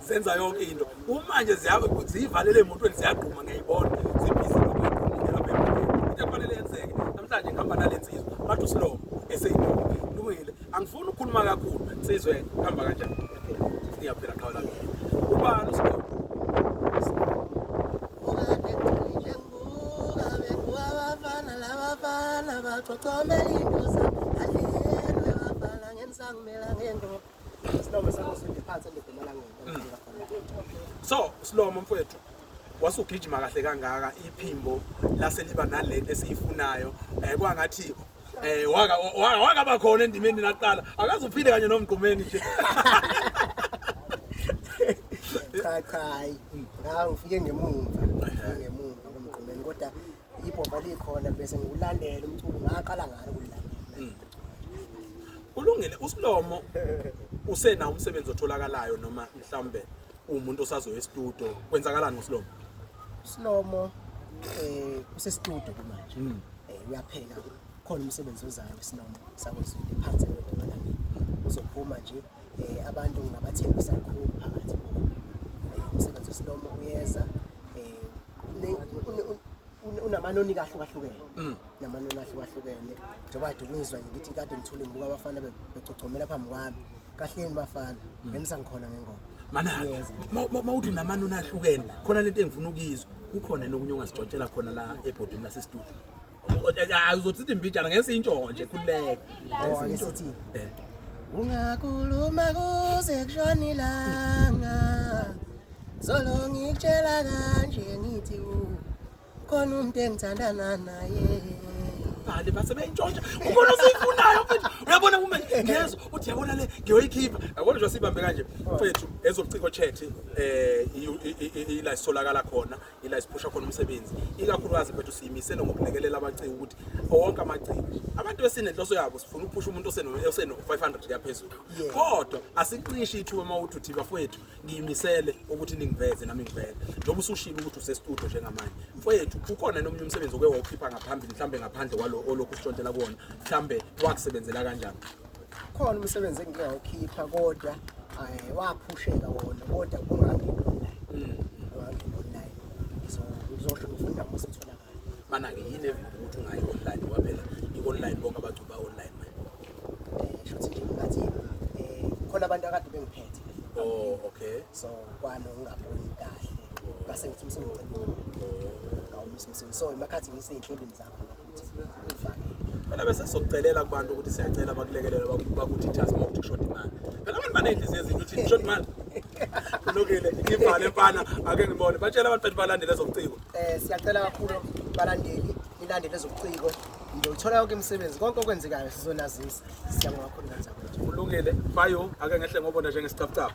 zenza yonke into kumanje ziyivalele emotweni ziyagquma ngiyayibona zibhizi nokuyiqumile lapha emotweni into efanele yenzeke namhlanje ngihamba nale nsizwa bathi usilomo eseyindoda lungile angifuni ukukhuluma kakhulu nsizwe kuhamba kanjani ngiyaphela qhawe lami ubani usilomo Comelito, San Alien, Rafael, Angen, San Melangen, so silomo mfowethu wasugijima kahle kangaka iphimbo lase liba nalento esiyifunayo um kwangathi Eh waka waka bakhona endimeni naqala akaze uphile kanye nomgqumeni nje cha cha hayi ngawu ufike ngemumva ngemumva komgqumeni kodwa ibhova likhona bese ngikulandela umculo ngaqala ngani ukulilandela hmm. ulungile usilomo usena umsebenzi otholakalayo noma mhlawumbe umuntu osazoya estudio kwenzakalani ngosilomo silomo eh usestudio kumanje hmm. eh uyapheka khona umsebenzi ozayo silomo sakwezulu phansi kodwa uzophuma nje eh, abantu ngabathembisa kakhulu phakathi eh, umsebenzi wesilomo uyeza unamanoni kahle kwahlukene mm. namanoni ahle kwahlukene njengoba kade kungizwa ngithi kade ngithule ngibuka abafana begcogcomela phambi kwami kahleni bafana mm. ngenisa ngikhona ngengoma mana mawuthi namanoni ahlukene khona lento engifuna ukuyizwa kukhona nokunye ongasixotshela khona la ebhodini lasestudio uzothi imbijana ngeke siyintshoho nje khululeka eh. ungakhuluma kuze kushona ilanga zolo ngikutshela kanje ngithi khona umuntu engithandana naye bhali base beyintshontsha ubona usiyifunayo mfethu uyabona uma ngezwa uthi yabona le ngiyoyikhipha yabona nje sibambe kanje mfethu ezobuciko chat eh ila isolakala khona ila siphusha khona umsebenzi ikakhulukazi mfethu siyimisele ngokulekelela abaciki ukuthi wonke amaciki abantu besinenhloso yabo sifuna ukuphusha umuntu oseno 500 kuyaphezulu kodwa asiqishi ithuba uma uthi uthi bafowethu ngiyimisele ukuthi ningiveze nami ngiveze njengoba usushilo ukuthi usestudio njengamanje mfowethu ukhona nomunye umsebenzi oke wawukhipha ngaphambili mhlambe ngaphandle kwalo olokhu ushontela kuwona mhlambe wakusebenzela kanjani Khona umsebenzi engike ngawukhipha kodwa eh, waphusheka wona kodwa kungangilula. Mm. Kungangilula. So ngizosho ngifunda mase utholakala. Mana ke yini evikela ukuthi ungayi online ngoba phela i-online bonke abantu ba online manje. Eh shothi nje ngathi eh khona abantu akade bengiphethe. Oh okay. So kwano ungaboni kahle. Ngase ngithi umsebenzi. Oh. Ngawumsebenzi. So imakhathi ngisenhlelweni zakho. phela bese sokucelela kubantu ukuthi siyacela bakulekelele bakuthi just move to short man phela abantu baneyinhliziyo ezinhle ukuthi short man kulungile ngivale mfana ake ngibone batshela abantu bethi balandele ezobuciko eh siyacela kakhulu balandeli nilandele ezobuciko ngiyothola yonke imisebenzi konke okwenzekayo sizonazisa siyabonga kakhulu kanjani kulungile bayo ake ngehle ngobona njengesicabucabu